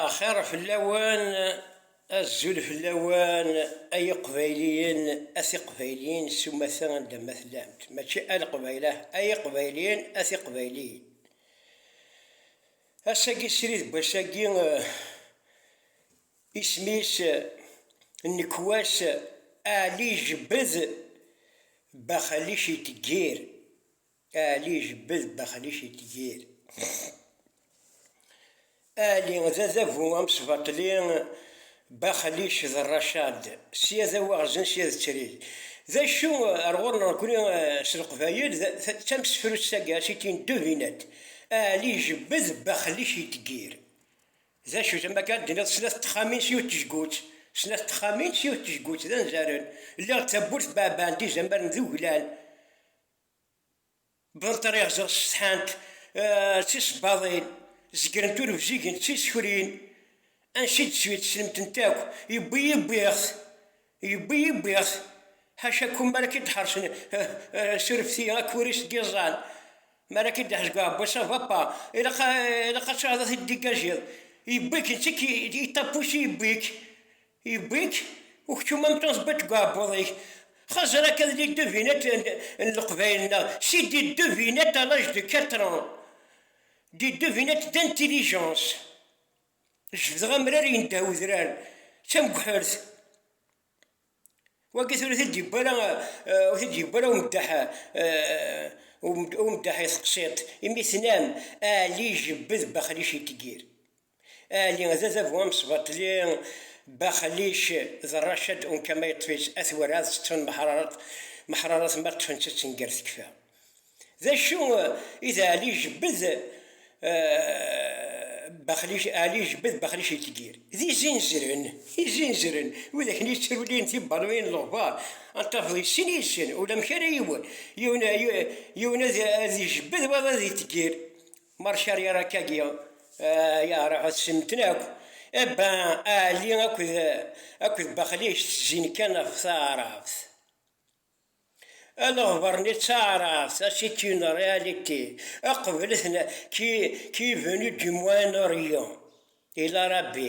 Axir fell-awen, azul fell-awen ay iqbayliyen, a tiqbayliyin s umata anda ma tellamt, mačči a leqbaylah, ay iqbayliyen, a tiqbayliyin. Ass-agi srid n wass-agi, isem-is nekk wass Ɛli Jbed Baxalic Iteggir. Aɛli jebbed daxel-ik itgir. Aɛli d adabu amesbaṭli baxel-ik d rracad, sya d awaɣzen sya d ttrig. D acu ar ɣur-neɣ nekni s leqbayel d tamsefrut tagga c'est une devinette, aɛli jebbed baxel-ik itgir. D acu-t ama akka ad d-tiniḍ snat n texxamin s yiwet n tejgut, snat n texxamin s yiwet n tejgut d anzaren, lliɣ d tawwurt beɛbaɛen-d izamaren d uglan. Berṭriɣ-ẓ ssetḥant d tisebbaḍin, zegrent ur bzigent d tisekrin, ansi i d-teswi teslemt-nt akk, yewwi-yi wwiɣ-t, yewwi-yi wwiɣ-t, ḥaca kum mi ara k-id-ḥersen surefti akk uris n yiẓẓan, mi ara k-id-iḥrez deg uɛebbuḍ s avapa, ilaq ad tɛudeḍ ad t-id-digajiḍ, yewwi-k, netta i k-yeṭṭapus i yewwi-k, Yewwi-k uksum am taẓbiṭ deg uɛebbuḍ-ik. Xazer akka d les devinettes n leqbayel-nneɣ, c'est des devinettes à l'âge de quatre ans, des devinettes d'intelligence. Jebdeɣ amrar yendeh wedrar d tamguḥert. Wagi tura ur t-id-yewwi ara, ur t-id-yewwi ara umeddaḥ, umeddaḥ i teqsiṭ, imi tenam, Ɛli jebbed baxlic i tgir. Aali d adabu amesbaṭli Baxlic d Racad unka ma yeṭṭef-itt at werɛad teṭṭfen meḥrarat, meḥrarat ma ṭṭfen-tt ad tenger tekfa. D acu i d Aali ijebbed Baxlic? Aali ijebbed Baxlic itgir d izinzren, izinzren wid akken yettrulin tibbaluyin n leɣbar ad tafeḍ yessen yessen ulamek ara yiwen, yiwen ad ijebbed wayeḍ ad itgir, Marcari ara kagi yeɛreq ad semmten akk, Ebba Aɛli akked Baxlic ttezzin kan ɣef taɛrabt. Aleɣber-nni d taɛrabt, a c'est une réalité, qeblet-n qui qui est venu du Moyen-Orient, ila Rabbi.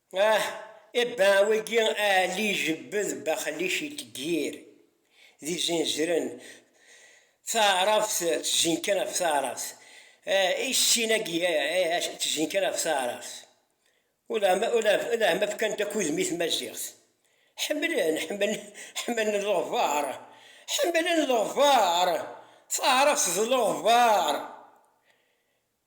Ah, e ben wagi Aɛli ijebbed Baxlic iteggir d izinzren, taɛrabt tezin kan ɣef taɛrabt, ah, i sin-agi ah, tezin kan ɣef taɛrabt, uleɛma fkan-d akk udem i tmaziɣt, ḥemmlen, ḥemmlen, ḥemmlen leɣbar, ḥemmlen leɣbar, taɛrabt d leɣbar.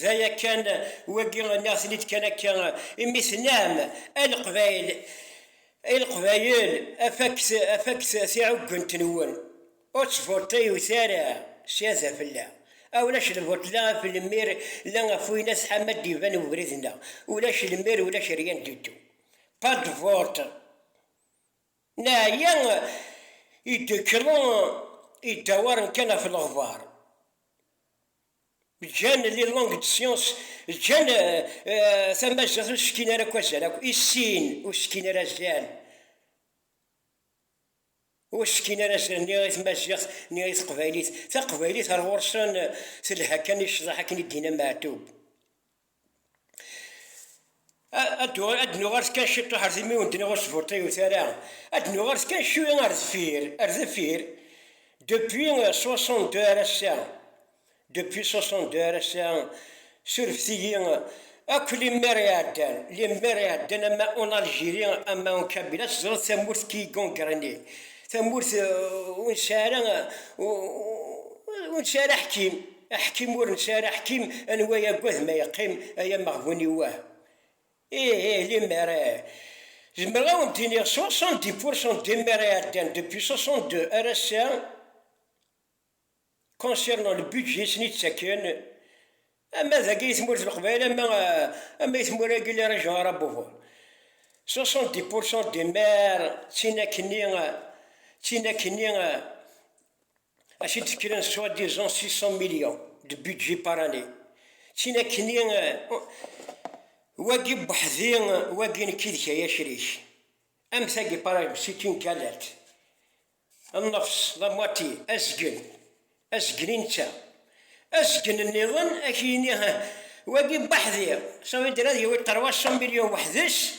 D aya kan, wagi nniɣ-ten-id kan akka imi tennam, a Leqbayel, ay Leqbayel, afak-t, afak-t tiɛuggent-nwen, ur tt-voteyut ara sya d afella, a ulac lvot la af lmir la af wayen a tḥam ad d-iban webrid-nneɣ, ulac lmir ulac rien du tout, pas de vote, neɛya i d-ikelḍen, idawaren kan af leɣbar. Ǧǧan les langues de science, ǧǧan tamaziɣt ur s-fkin ara akk azal akk, i sin ur s-fkin ara azal, ur s-fkin ara azal ni i tmaziɣt ni i teqbaylit, taqbaylit ar ɣur-sen telha kan i ccḍeḥ akken i d-yenna Meɛtub. ad nuɣers kan ciṭuḥ ar timi ur d-nniɣ ur sburṭiyut ara, ad nuɣers kan cwi ar deffir, ar deffir, depuis 62 ar ass-a, depuis 62 ar ass-a, surfet-iyi akk limmer iɛeddan, limmer iɛeddan ama en Algérie ama en Kabylie, ad teẓreḍ tamurt qui est gangrenée, tamurt ur nesɛi ara, ur nesɛi ara aḥkim. Aḥkim ur nesɛi ara aḥkim, anwa yagad ma yeqqim, ay ameɣbun-iw wah! Ih, ih, limmer ih! Zemreɣ ad wen-d-iniɣ soixante-dix pour cent des maires iɛeddan depuis soixante-deux ar ass-a concernant le budget i sen-ittaken, ama dagi di tmurt n Leqbayel ama ama di tmura-agi les régions arabophones, soixante-dix pour cent des maires d tinakni, d tinakni. Ass i d-tekkren soit disant six cents millions de budget par année, ttin akkenni, wagi weḥdi, wagi nekk yid-k ay acrik, am tagi par exemple c'est une galette, nnefs, la moitié, azgen, azgen i netta, azgen nniḍen ad ak-yini, wagi weḥdi, ça veut dire ad yawi trois cents millions weḥd-s,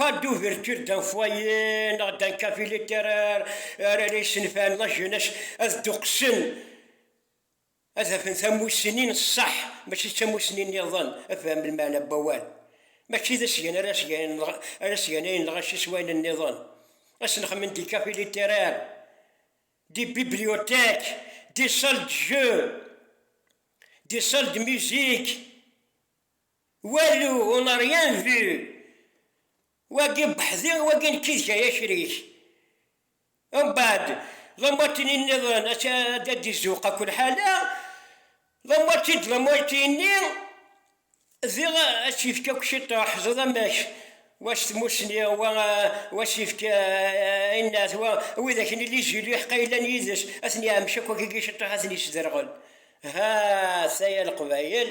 Pas d'ouverture d'un foyer neɣ d'un café littéraire ara la yessenfan la jeunesse ad dduqsen ad afen tamussni n ṣṣeḥ mačči d tamussni nniḍen afham lmeɛna n wawal mačči d asgan ara asgan ara asganayen lɣaci s wayen nniḍen ad snexmen des cafés littéraires des bibliothèques des salles de jeu des salles de musique Walu on a rien vu wagi n weḥdi wagi nekki d kay akrik mbaɛd d amuatini nniḍen a d d izuq akk lḥala d amuati d lamuati-nni diɣ a tt-yefk akk ciṭuḥ ẓeḍ amek Wac tmussni, wa wac ifk innat, wa wid akken illi jil iḥeqqa yellan yid-s, ad ten-iɛemc akk akken iceṭṭeḥ ad ten-isderɣel. Ha ta ya Leqbayel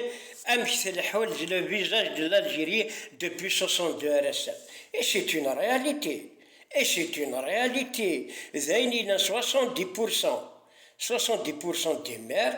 amek tleḥḥu d le visage de l'Algérie depuis 62 ar ass-a. Et c'est une réalité! Et c'est une réalité! D ayen yellan 70 pourcent, 70 pourcent des maires,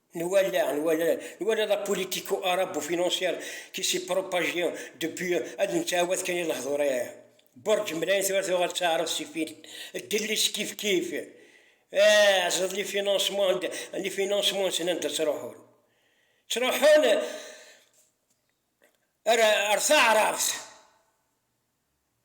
Nwala, nwala, nwala la politico arabo financière qui s'est propagée depuis ad nettɛawad kan i lehdur aya. Burǧ mlayen tura tuɣal d taɛrabt si fil, ddellis kif kif. Ah, ẓid les financements, les financements nsen anda ttruḥun. Ttruḥun ar, ar taɛrabt.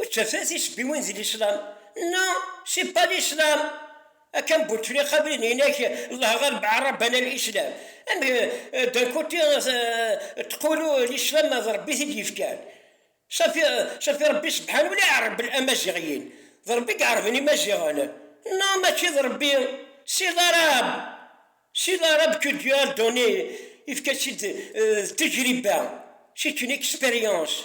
Ur ttafat tisebbiwin di lislam? Non, c'est pas l'islam! Akka am Bouteflika win inak Allah ghaleb arabana l'islam. Amek d'un côté tqulu l'islam d Rebbi t-id yefkan? Safi safi Rebbi sebḥan ula iɛerbel amaziɣiyin, d Rebbi i iɛerben imaziɣen. Non mačči d Rebbi, c'est l'arabe! C'est l'arabe que Dieu a donné, yefka-tt-id d tajriba, c'est une expérience.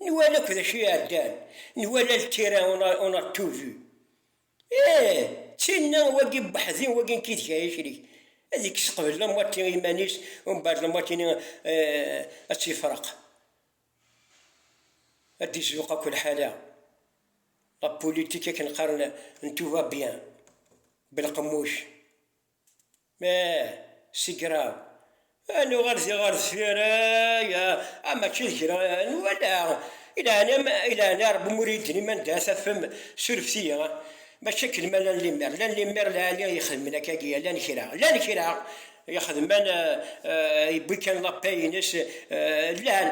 Nwala akk d acu iɛeddan, nwala le tira on a tout vu. Ih, d tinna, wagi n weḥd-i, wagi n kideg ay acrik, ad ikkes qbel la moitié i yiman-is, umbeɛd la moitié-nni ad tt-yefreq, ad d-izluq akk lḥala, la politique akken qqaren n tout va bien, belqemmuc. Ma sigraḍ, ad nuɣal di ɣer deffir, ay, a mačči d kra n wala, i leɛnam, i leɛna Rebbi mur iyi d-niman da tafem, surfet-iyi, mačči akken ma llan limmer, llan limmer lɛali ixedmen akkagi, llan kra, llan kra ixedmen, yewwi kan la paix-ines, llan.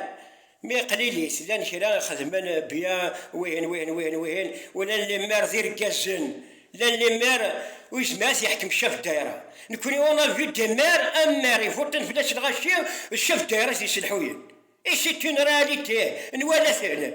Mi qlilit, llan kra i xedmen bya wihin, wihin, wihin, wihin, u llan lemmer d irggazen, llan lemmer uyezmar t-yeḥkem Chef Daïra. Nekkni on a vu des maires, un maire ivuṭṭen fell-as lɣaci d Chef Daïra i t-yesselḥuyen. Et c'est une réalité, nwala-ten.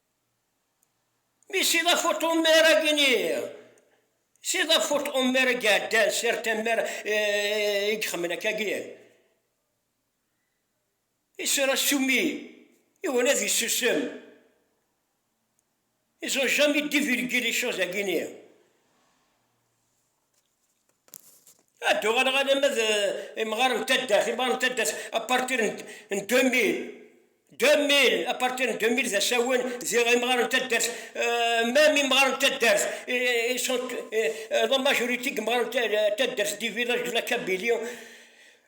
Mi s iḍaf ur tɣummi ara agini, s iḍaf ur tɣummi ara i iɛeddan, sirt ammer i ixemmen akka agi, isur asumi iwwin ad isusem, ils ont jamais divulgué les choses agini. Ad d-uɣaleɣ alamma d imɣar n taddart, imɣar n taddart apartir n 2000, 2000, apartir n 2000 d asawen d imɣar n taddart, mem imɣar n taddart ils sont la majorité deg imɣar n taddart des villages de la Kabylie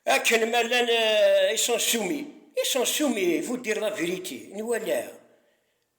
akken ma llan ils sont soumis, ils sont soumis, il faut dire la vérité, nwalaɣ.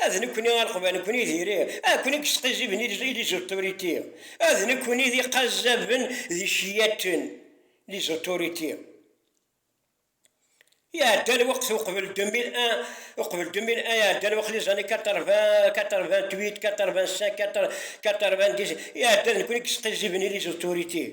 A d nekkni ara qbalen-ken i diri, a ken-id yesqizziben i les autorités, a d nekkni d iqazzaben d iceyyaten, les autorités. Iɛedda lweqt uqbel 2001, uqbel 2001 iɛedda lweqt les années 80, 88, 85, 90, iɛedda d nekkni i yesqizziben i les autorités.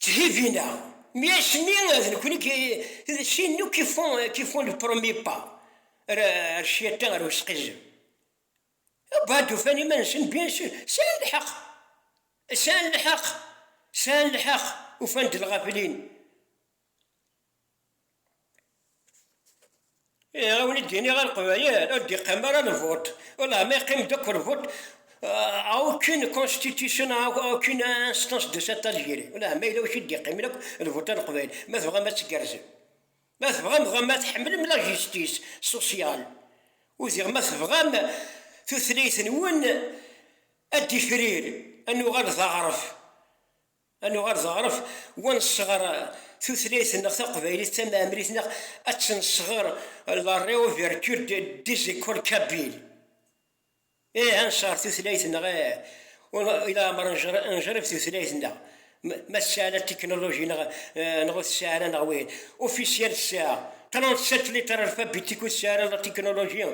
Tthibina, mi asmi d nekni sin akk qui font le premier pas, ar ccyaṭa, ar usqizzeb, bad ufan iman-nsen bien sûr, sɛan lḥeq, sɛan lḥeq, sɛan lḥeq, ufan-d lɣaflin, Ihi ad wen-d-iniɣ a Leqbayel, ur d-iqqim ara lvuṭ, ulama yeqqim-d akk lvuṭ à aucune constitution, à aucune instance de cette Algérie, ulama yella wacu i d-iqqimen akk lvuṭ a Leqbayel, ma tebɣam ad tgerrzem, ma tebɣam dɣa ad tḥemmlem la justice sociale, udiɣ ma tebɣam tutlayt-nwen ad d-tifrir, ad nuɣal d aɣref. Ad nuɣal d aɣref wa nesɣer tutlayt nneɣ taqbaylit d tamɛemrit neɣ ad tt-nesɣer la reouverture des écoles kabyles. Ih ad nesɣer tutlayt nneɣ ih i leɛmer nejrib tutlayt nneɣ ma tesɛa la technologie neɣ ur tesɛi ara neɣ wihin. Officiel tesɛa 37 lettres alphabétiques ur tesɛi ara la technologie,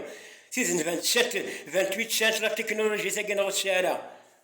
tid n 27, 28 tesɛant la technologie tagi neɣ ur tesɛi ara.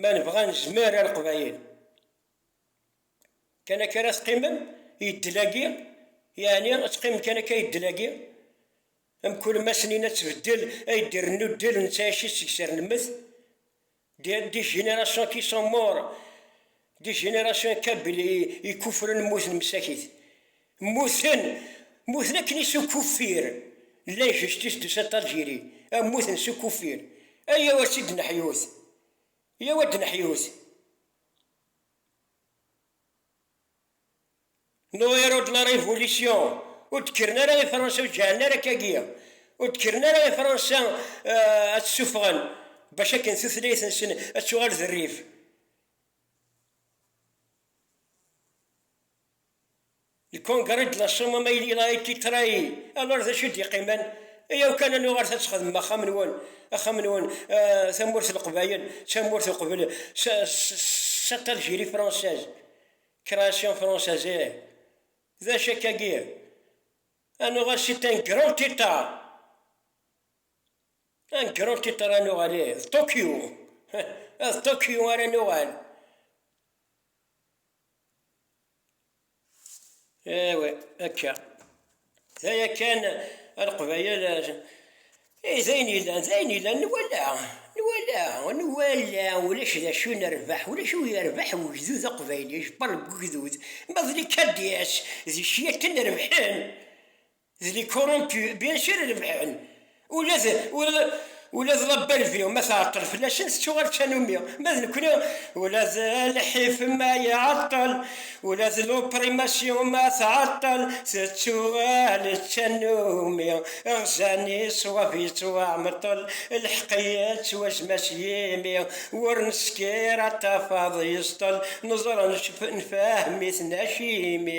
Ma nebɣa nezmer a leqbayel. Kan akka ara teqqimem i ddel-agi? Yeɛni ad teqqimem kan akka i ddel-agi? Mkul ma snin ad tbeddel ay d-irennu ddel netta aci seg-s irnemmet? Des des générations qui sont morts, des générations kabyle i ikufren mmuten msakit. Mmuten, mmuten akken i s ukuffir, llan kečč tisdusa n Talgiri, a mmuten s ukuffir, ayaw ad tt-id-neḥyut, yaw ad d-neḥyut. No héros de la révolution, ur d-kkren ara i Fransa, ur ǧǧeɛlen ara akka-agi, ur d-kkren ara i Fransa ad tt-suffɣen, bac akken tutlayt-nsen ad tuɣal d rrif. Lkungṛi d laṣum amayli il a été trahi, alors d acu i d-yeqqimen? Ayaw kan a nuɣal ta tt-xedmem axxam-nwen, axxam-nwen, tamurt n Leqbayel d tamurt uqbel c'est Algérie française, création française ih, d acu akka-agi? A nuɣal c'est un grand état, un grand état ara nuɣal ih, d Tokyo, ih, d Tokyo ara nuɣal. Ewa akka, d aya kan a Leqbayel, ih d ayen yellan, d ayen yellan, nwala, nwala, nwala ulac d acu nerbeḥ, ulac ur yerbeḥ ugdud aqbayli, ajebbar n ugdud ma d likadyas d kečč yakan rebḥen. D les corrompus bien sûr i rebḥen, ula d ula d la Bellevue ma tɛeṭṭel fell-asen tettuɣal d tanumi, ma d nekkni ula d lḥif ma iɛeṭṭel, ula d l'opprimation ma tɛeṭṭel tettuɣal d tanumi, ɣzan i ṣṣwab yettwaɛmeṭṭel, lḥeq yettwazma s yimi, wur neskiṛ ad tafeḍ yeẓṭel, neẓra nfehhem-iten acimi.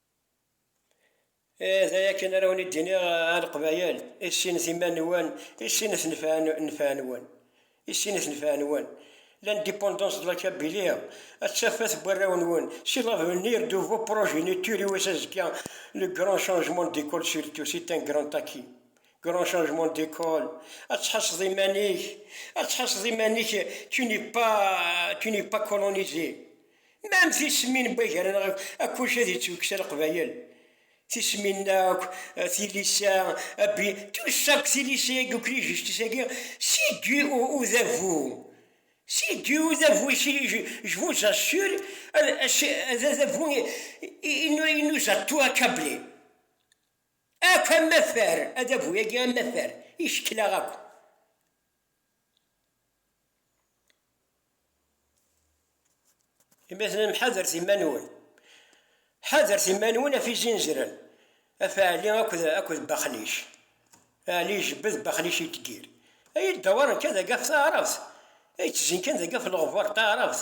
Eh, d aya kan ara wen-id-iniɣ a Leqbayel, issinet iman-nwen, issinet nnfeɛ-nwen. Issinet nnfeɛ-nwen. L'indépendance de la Kabylie ad tafat n warraw-nwen si l'avenir de vos progenitures i wass azekka, le grand changement d'école surtout c'est un grand acquis. Grand changement d'école, ad tḥasseḍ iman-ik, ad tḥasseḍ iman-ik, tu n'es pas, tu n'es pas colonisé. Ma am tismin n wagaren akk wacu ad yettwekksa leqbayel, tismin akk, tilisa, abbi, tout ça akk tilisa agi akk lijistis agi, c'est dû au udabu, c'est dû au udabu, je vous assure, ad adabu il nous a tout accablé, akk amafar, adabu agi amafar, icekel-aɣ akk. Imaten-im ḥadret iman-nwen. Ḥadret iman-nwen af izinzren, af Ɛli akked akked Baxlic. Ɛli ijebbed, Baxlic ittgir. Ay iddawaṛen kan dagi af taɛrabt, ay ttezzin kan dagi af leɣbar n taɛrabt.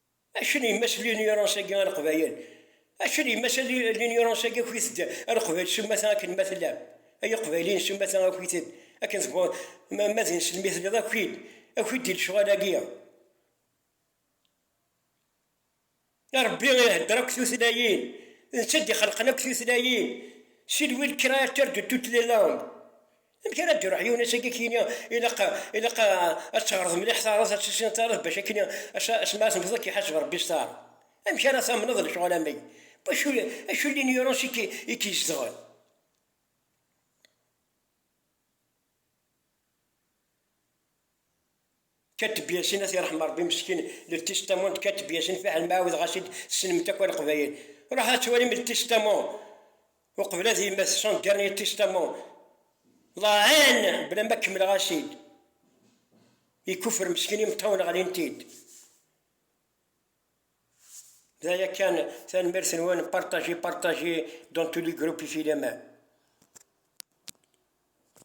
Acu n yemma-s n linyurans-agi a Leqbayel? Acu n yemma-s n linyurans-agi akk-ited a Leqbayel s umata akken ma tellam? Ay Iqbayliyen s umata akk-ited akken tebɣum, ma d ineslem i telliḍ akk-id, akk-id di lecɣal-agi. Rebbi ihedder akk tutlayin, d netta d ixelqen akk tutlayin, c'est lui le créateur de toutes les langues, Amek ara d-iruḥ yiwen ass-agi akken ilaq ilaq ad teɣreḍ mliḥ taɛraḍt, ad tissineḍ taɛraḍt bac akken ass mi ara temmteḍ ad k-iḥaseb Rebbi s taɛraḍt. Amek ara tamneḍ lecɣal am wagi? Bac acu n linyurans i k-izedɣen? Kateb Yasin ad t-irḥem Rebbi meskin le testament de Kateb Yasin fiḥel ma ɛawdeɣ as-id tessnem-t akk a leqbayel ruḥ ad twalim le testament uqbel ad yemmet son dernier testament la haine bla ma kemmleɣ as-id ikuffer meskin imeṭṭawen ɣlin-t-id d aya kan tanemmirt-nwen partager partager dans tous les groupes ifilaman